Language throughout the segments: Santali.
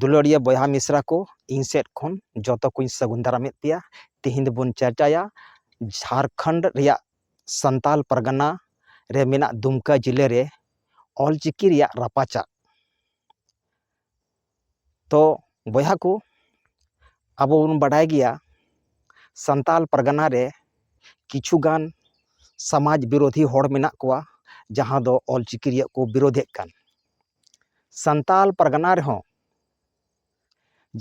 ᱫᱩᱞᱟᱹᱲᱤᱭᱟᱹ ᱵᱚᱭᱦᱟ ᱢᱤᱥᱨᱟ ᱠᱚ ᱤᱧ ᱥᱮᱫ ᱠᱷᱚᱱ ᱡᱚᱛᱚ ᱠᱚᱧ ᱥᱟᱹᱜᱩᱱ ᱫᱟᱨᱟᱢᱮᱫ ᱯᱮᱭᱟ ᱛᱮᱦᱮᱧ ᱫᱚᱵᱚᱱ ᱪᱟᱨᱪᱟᱭᱟ ᱡᱷᱟᱲᱠᱷᱚᱸᱰ ᱨᱮᱭᱟᱜ ᱥᱟᱱᱛᱟᱞ ᱯᱟᱨᱜᱟᱱᱟ ᱨᱮ ᱢᱮᱱᱟᱜ ᱫᱩᱢᱠᱟ ᱡᱮᱞᱟᱹ ᱨᱮ ᱚᱞᱪᱤᱠᱤ ᱨᱮᱭᱟᱜ ᱨᱟᱯᱟᱪᱟᱜ ᱛᱚ ᱵᱚᱭᱦᱟ ᱠᱚ ᱟᱵᱚ ᱵᱚᱱ ᱵᱟᱰᱟᱭ ᱜᱮᱭᱟ ᱥᱟᱱᱛᱟᱲ ᱯᱟᱨᱜᱟᱱᱟ ᱨᱮ ᱠᱤᱪᱷᱩ ᱜᱟᱱ ᱥᱟᱢᱟᱡᱽ ᱵᱤᱨᱳᱫᱷᱤ ᱦᱚᱲ ᱢᱮᱱᱟᱜ ᱠᱚᱣᱟ ᱡᱟᱦᱟᱸ ᱫᱚ ᱚᱞ ᱪᱤᱠᱤ ᱨᱮᱭᱟᱜ ᱠᱚ ᱵᱤᱨᱳᱫᱷᱮᱫ ᱠᱟᱱ ᱥᱟᱱᱛᱟᱲ ᱯᱟᱨᱜᱟᱱᱟ ᱨᱮᱦᱚᱸ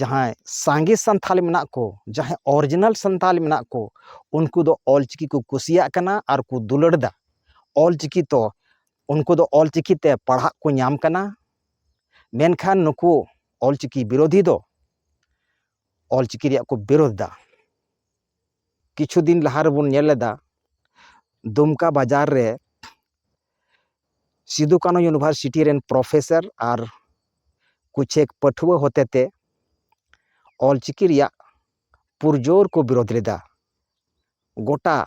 ᱡᱟᱦᱟᱸᱭ ᱥᱟᱸᱜᱮ ᱥᱟᱱᱛᱟᱲ ᱢᱮᱱᱟᱜ ᱠᱚ ᱡᱟᱦᱟᱸᱭ ᱚᱨᱤᱡᱤᱱᱟᱞ ᱥᱟᱱᱛᱟᱲ ᱢᱮᱱᱟᱜ ᱠᱚ ᱩᱱᱠᱩ ᱫᱚ ᱚᱞ ᱪᱤᱠᱤ ᱠᱚ ᱠᱩᱥᱤᱭᱟᱜ ᱠᱟᱱᱟ ᱟᱨ ᱠᱚ ᱫᱩᱞᱟᱹᱲ ᱮᱫᱟ ᱚᱞ ᱪᱤᱠᱤ ᱛᱚ ᱩᱱᱠᱩ ᱫᱚ ᱚᱞ ᱪᱤᱠᱤ ᱛᱮ ᱯᱟᱲᱦᱟᱜ ᱠᱚ ᱧᱟᱢ ᱠᱟᱱᱟ ᱢᱮᱱᱠᱷᱟᱱ ᱱᱩᱠᱩ ᱚᱞ ᱪᱤᱠᱤ ᱵᱤᱨᱳᱫᱷᱤ ᱫᱚ ᱚᱞ ᱪᱤᱠᱤ ᱨᱮᱭᱟᱜ ᱠᱚ ᱵᱤᱨᱳᱫᱷ ᱫᱟ ᱠᱤᱪᱷᱩ ᱫᱤᱱ ᱞᱟᱦᱟ ᱨᱮᱵᱚᱱ ᱧᱮᱞ ᱞᱮᱫᱟ ᱫᱩᱢᱠᱟ ᱵᱟᱡᱟᱨ ᱨᱮ ᱥᱤᱫᱩ ᱠᱟᱹᱱᱩ ᱤᱭᱩᱱᱤᱵᱷᱟᱨᱥᱤᱴᱤ ᱨᱮᱱ ᱯᱨᱚᱯᱷᱮᱥᱟᱨ ᱟᱨ ᱠᱩᱪᱷᱮᱠ ᱯᱟᱹᱴᱷᱩᱣᱟᱹ ᱦᱚᱛᱮᱛᱮ ᱚᱞ ᱪᱤᱠᱤ ᱨᱮᱭᱟᱜ ᱯᱩᱨᱡᱳᱨ ᱠᱚ ᱵᱤᱨᱳᱫᱷ ᱞᱮᱫᱟ ᱜᱚᱴᱟ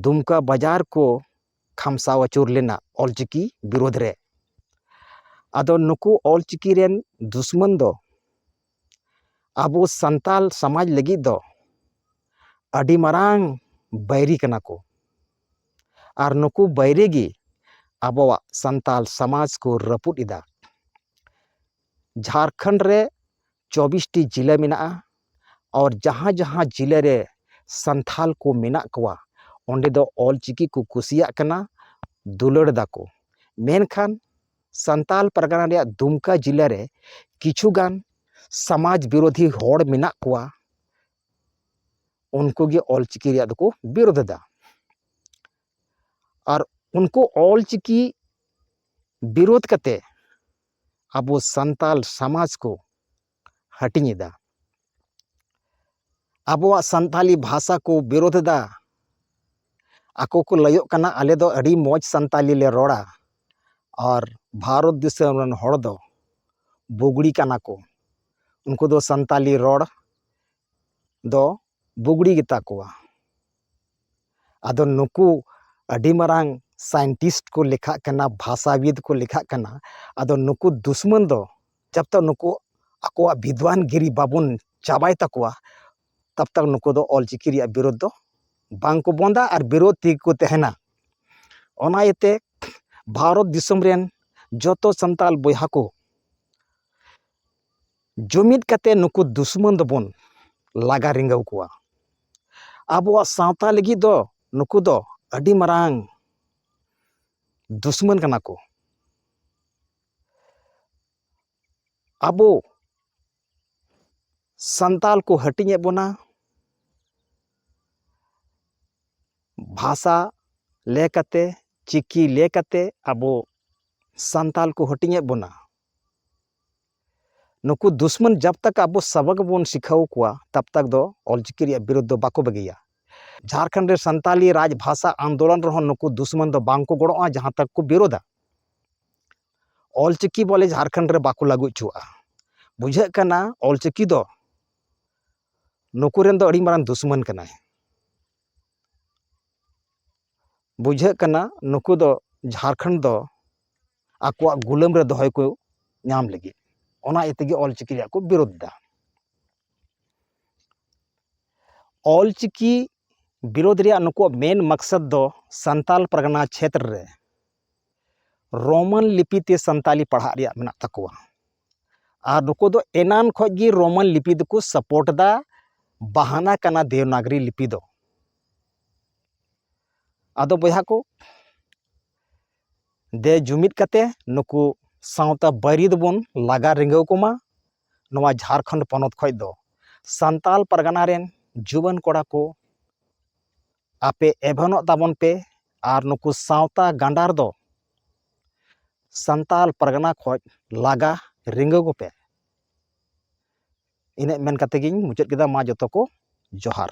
ᱫᱩᱢᱠᱟ ᱵᱟᱡᱟᱨ ᱠᱚ ᱠᱷᱟᱢᱥᱟᱣ ᱟᱹᱪᱩᱨ ᱞᱮᱱᱟ ᱚᱞ ᱪᱤᱠᱤ ᱵᱤᱨᱳᱫᱷ ᱨᱮ ᱟᱫᱚ ᱱᱩᱠᱩ ᱚᱞ ᱪᱤᱠᱤ ᱨᱮᱱ ᱫᱩᱥᱢᱚᱱ ᱫᱚ ᱟᱵᱚ ᱥᱟᱱᱛᱟᱲ ᱥᱚᱢᱟᱡᱽ ᱞᱟᱹᱜᱤᱫ ᱫᱚ ᱟᱹᱰᱤ ᱢᱟᱨᱟᱝ ᱵᱟᱹᱭᱨᱤ ᱠᱟᱱᱟ ᱠᱚ ᱟᱨ ᱱᱩᱠᱩ ᱵᱟᱹᱭᱨᱤ ᱜᱮ ᱟᱵᱚᱣᱟᱜ ᱥᱟᱱᱛᱟᱲ ᱥᱚᱢᱟᱡᱽ ᱠᱚ ᱨᱟᱹᱯᱩᱫ ᱮᱫᱟ ᱡᱷᱟᱲᱠᱷᱚᱸᱰ ᱨᱮ ᱪᱚᱵᱽᱵᱤᱥᱴᱤ ᱡᱮᱞᱟ ᱢᱮᱱᱟᱜᱼᱟ ᱟᱨ ᱡᱟᱦᱟᱸ ᱡᱟᱦᱟᱸ ᱡᱮᱞᱟ ᱨᱮ ᱥᱟᱱᱛᱟᱲ ᱠᱚ ᱢᱮᱱᱟᱜ ᱠᱚᱣᱟ ᱚᱸᱰᱮ ᱫᱚ ᱚᱞ ᱪᱤᱠᱤ ᱠᱚ ᱠᱩᱥᱤᱭᱟᱜ ᱠᱟᱱᱟ ᱫᱩᱞᱟᱹᱲ ᱫᱟᱠᱚ ᱢᱮᱱᱠᱷᱟᱱ ᱥᱟᱱᱛᱟᱲ ᱯᱟᱨᱜᱟᱱᱟ ᱨᱮᱭᱟᱜ ᱫᱩᱢᱠᱟ ᱡᱮᱞᱟ ᱨᱮ ᱠᱤᱪᱷᱩ ᱜᱟᱱ ᱥᱟᱢᱟᱡᱽ ᱵᱤᱨᱳᱫᱷᱤ ᱦᱚᱲ ᱢᱮᱱᱟᱜ ᱠᱚᱣᱟ ᱩᱱᱠᱩ ᱜᱮ ᱚᱞ ᱪᱤᱠᱤ ᱨᱮᱭᱟᱜ ᱫᱚᱠᱚ ᱵᱤᱨᱳᱫᱷ ᱮᱫᱟ ᱟᱨ ᱩᱱᱠᱩ ᱚᱞ ᱪᱤᱠᱤ ᱵᱤᱨᱳᱫᱷ ᱠᱟᱛᱮᱫ ᱟᱵᱚ ᱥᱟᱱᱛᱟᱲ ᱥᱚᱢᱟᱡᱽ ᱠᱚ ᱦᱟᱹᱴᱤᱧ ᱮᱫᱟ ᱟᱵᱚᱣᱟᱜ ᱥᱟᱱᱛᱟᱲᱤ ᱵᱷᱟᱥᱟ ᱠᱚ ᱵᱤᱨᱳᱫᱷ ᱮᱫᱟ ᱟᱠᱚ ᱠᱚ ᱞᱟᱹᱭᱚᱜ ᱠᱟᱱᱟ ᱟᱞᱮ ᱫᱚ ᱟᱹᱰᱤ ᱢᱚᱡᱽ ᱥᱟᱱᱛᱟᱲᱤ ᱞᱮ ᱨᱚᱲᱟ ᱟᱨ ᱵᱷᱟᱨᱚᱛ ᱫᱤᱥᱚᱢ ᱨᱮᱱ ᱦᱚᱲ ᱫᱚ ᱵᱩᱜᱽᱲᱤ ᱠᱟᱱᱟ ᱠᱚ ᱩᱱᱠᱩ ᱫᱚ ᱥᱟᱱᱛᱟᱲᱤ ᱨᱚᱲ ᱫᱚ ᱵᱩᱜᱽᱲᱤ ᱜᱮᱛᱟ ᱠᱚᱣᱟ ᱟᱫᱚ ᱱᱩᱠᱩ ᱟᱹᱰᱤ ᱢᱟᱨᱟᱝ ᱥᱟᱭᱮᱱᱴᱤᱥᱴ ᱠᱚ ᱞᱮᱠᱷᱟᱜ ᱠᱟᱱᱟ ᱵᱷᱟᱥᱟᱵᱤᱫ ᱠᱚ ᱞᱮᱠᱷᱟᱜ ᱠᱟᱱᱟ ᱟᱫᱚ ᱱᱩᱠᱩ ᱫᱩᱥᱢᱚᱱ ᱫᱚ ᱡᱚᱵ ᱛᱚᱠ ᱱᱩᱠᱩ ᱟᱠᱚᱣᱟᱜ ᱵᱤᱫᱽᱣᱟᱱ ᱜᱤᱨᱤ ᱵᱟᱵᱚᱱ ᱪᱟᱵᱟᱭ ᱛᱟᱠᱚᱣᱟ ᱛᱚᱵ ᱛᱚᱠ ᱱᱩᱠᱩ ᱫᱚ ᱚᱞ ᱪᱤᱠᱤ ᱨᱮᱭᱟᱜ ᱵᱤᱨᱳᱫᱷ ᱫᱚ ᱵᱟᱝ ᱠᱚ ᱵᱚᱱᱫᱟ ᱟᱨ ᱵᱤᱨᱳᱫᱷ ᱛᱮᱜᱮ ᱠᱚ ᱛᱟᱦᱮᱱᱟ ᱚᱱᱟ ᱤᱭᱟᱹᱛᱮ ᱵᱷᱟᱨᱚᱛ ᱫᱤᱥᱚᱢ ᱨᱮᱱ ᱡᱚᱛᱚ ᱥᱟᱱᱛᱟᱲ ᱵᱚᱭᱦᱟ ᱠᱚ ᱡᱩᱢᱤᱫ ᱠᱟᱛᱮ ᱱᱩᱠᱩ ᱫᱩᱥᱢᱟᱹᱱ ᱫᱚᱵᱚᱱ ᱞᱟᱜᱟ ᱨᱤᱸᱜᱟᱹᱣ ᱠᱚᱣᱟ ᱟᱵᱚᱣᱟᱜ ᱥᱟᱶᱛᱟ ᱞᱟᱹᱜᱤᱫ ᱫᱚ ᱱᱩᱠᱩ ᱫᱚ ᱟᱹᱰᱤ ᱢᱟᱨᱟᱝ ᱫᱩᱥᱢᱟᱹᱱ ᱠᱟᱱᱟ ᱠᱚ ᱟᱵᱚ ᱥᱟᱱᱛᱟᱞ ᱠᱚ ᱦᱟᱹᱴᱤᱧᱮᱫ ᱵᱚᱱᱟ ᱵᱷᱟᱥᱟ ᱞᱮ ᱠᱟᱛᱮ ᱪᱤᱠᱤ ᱞᱮ ᱠᱟᱛᱮ ᱟᱵᱚ ᱥᱟᱱᱛᱟᱞ ᱠᱚ ᱦᱟᱹᱴᱤᱧᱮᱫ ᱵᱚᱱᱟ ᱱᱩᱠᱩ ᱫᱩᱥᱢᱟᱱ ᱡᱟᱵ ᱛᱟᱠ ᱟᱵᱚ ᱥᱟᱵᱟᱠ ᱵᱚᱱ ᱥᱤᱠᱷᱟᱣ ᱠᱚᱣᱟ ᱛᱟᱵ ᱛᱟᱠ ᱫᱚ ᱚᱞᱪᱤᱠᱤ ᱨᱮᱭᱟᱜ ᱵᱤᱨᱳᱫ ᱫᱚ ᱵᱟᱠᱚ ᱵᱟᱹᱜᱤᱭᱟ ᱡᱷᱟᱨᱠᱷᱚᱸᱰ ᱨᱮ ᱥᱟᱱᱛᱟᱞᱤ ᱨᱟᱡᱽ ᱵᱷᱟᱥᱟ ᱟᱱᱫᱳᱞᱚᱱ ᱨᱮᱦᱚᱸ ᱱᱩᱠᱩ ᱫᱩᱥᱢᱟᱱ ᱫᱚ ᱵᱟᱝ ᱠᱚ ᱜᱚᱲᱚᱜᱼᱟ ᱡᱟᱦᱟᱸ ᱛᱟᱠ ᱠᱚ ᱵᱤᱨᱳᱫᱟ ᱚᱞᱪᱤᱠᱤ ᱵᱚᱞᱮ ᱡᱷᱟᱨᱠᱷᱚᱸᱰ ᱨᱮ ᱵᱟᱠᱚ ᱞᱟᱹᱜᱩ ᱦᱚᱪᱚᱣᱟᱜᱼᱟ ᱵᱩᱡᱷᱟᱹᱜ ᱠᱟᱱᱟ ᱚᱞᱪᱤᱠᱤ ᱫᱚ ᱱᱩᱠᱩ ᱨᱮᱱ ᱫᱚ ᱟᱹᱰᱤ ᱢᱟᱨᱟᱝ ᱫᱩᱥᱢᱟᱹᱱ ᱠᱟᱱᱟᱭ ᱵᱩᱡᱷᱟᱹᱜ ᱠᱟᱱᱟ ᱱᱩᱠᱩ ᱫᱚ ᱡᱷᱟᱲᱠᱷᱚᱸᱰ ᱫᱚ ᱟᱠᱚᱣᱟᱜ ᱜᱩᱞᱟᱹᱢ ᱨᱮ ᱫᱚᱦᱚᱭ ᱠᱚ ᱧᱟᱢ ᱞᱟᱹᱜᱤᱫ ᱚᱱᱟ ᱤᱭᱟᱹ ᱛᱮᱜᱮ ᱚᱞ ᱪᱤᱠᱤ ᱨᱮᱭᱟᱜ ᱠᱚ ᱵᱤᱨᱳᱫᱷ ᱮᱫᱟ ᱚᱞ ᱪᱤᱠᱤ ᱵᱤᱨᱳᱫᱷ ᱨᱮᱭᱟᱜ ᱱᱩᱠᱩᱣᱟᱜ ᱢᱮᱱ ᱢᱟᱠᱥᱚᱛ ᱫᱚ ᱥᱟᱱᱛᱟᱲ ᱯᱟᱨᱜᱟᱱᱟ ᱪᱷᱮᱛᱨᱚ ᱨᱮ ᱨᱳᱢᱟᱱ ᱞᱤᱯᱤ ᱛᱮ ᱥᱟᱱᱛᱟᱲᱤ ᱯᱟᱲᱦᱟᱜ ᱨᱮᱭᱟᱜ ᱢᱮᱱᱟᱜ ᱛᱟᱠᱚᱣᱟ ᱟᱨ ᱱᱩᱠᱩ ᱫᱚ ᱮᱱᱟᱱ ᱠᱷᱚᱱ ᱜᱮ ᱨᱳᱢᱟᱱ ᱞᱤᱯᱤ ᱫᱚᱠᱚ ᱥᱟᱯᱳᱨᱴ ᱮᱫᱟ ᱵᱟᱦᱟᱱᱟ ᱠᱟᱱᱟ ᱫᱮᱵᱽᱱᱟᱜᱽᱨᱤ ᱞᱤᱯᱤ ᱫᱚ ᱟᱫᱚ ᱵᱚᱭᱦᱟ ᱠᱚ ᱫᱮ ᱡᱩᱢᱤᱫ ᱠᱟᱛᱮ ᱱᱩᱠᱩ ᱥᱟᱶᱛᱟ ᱵᱟᱹᱭᱨᱤ ᱫᱚᱵᱚᱱ ᱞᱟᱜᱟ ᱨᱤᱸᱜᱟᱹᱣ ᱠᱚᱢᱟ ᱱᱚᱣᱟ ᱡᱷᱟᱲᱠᱷᱚᱸᱰ ᱯᱚᱱᱚᱛ ᱠᱷᱚᱱ ᱫᱚ ᱥᱟᱱᱛᱟᱲ ᱯᱟᱨᱜᱟᱱᱟ ᱨᱮᱱ ᱡᱩᱣᱟᱹᱱ ᱠᱚᱲᱟ ᱠᱚ ᱟᱯᱮ ᱮᱵᱷᱮᱱᱚᱜ ᱛᱟᱵᱚᱱ ᱯᱮ ᱟᱨ ᱱᱩᱠᱩ ᱥᱟᱶᱛᱟ ᱜᱟᱸᱰᱟᱨ ᱫᱚ ᱥᱟᱱᱛᱟᱲ ᱯᱟᱨᱜᱟᱱᱟ ᱠᱷᱚᱱ ᱞᱟᱜᱟ ᱨᱤᱸᱜᱟᱹ ᱠᱚᱯᱮ ᱤᱱᱟᱹᱜ ᱢᱮᱱ ᱠᱟᱛᱮᱫ ᱜᱤᱧ ᱢᱩᱪᱟᱹᱫ ᱠᱮᱫᱟ ᱢᱟ ᱡᱚᱛᱚ ᱠᱚ ᱡᱚᱦᱟᱨ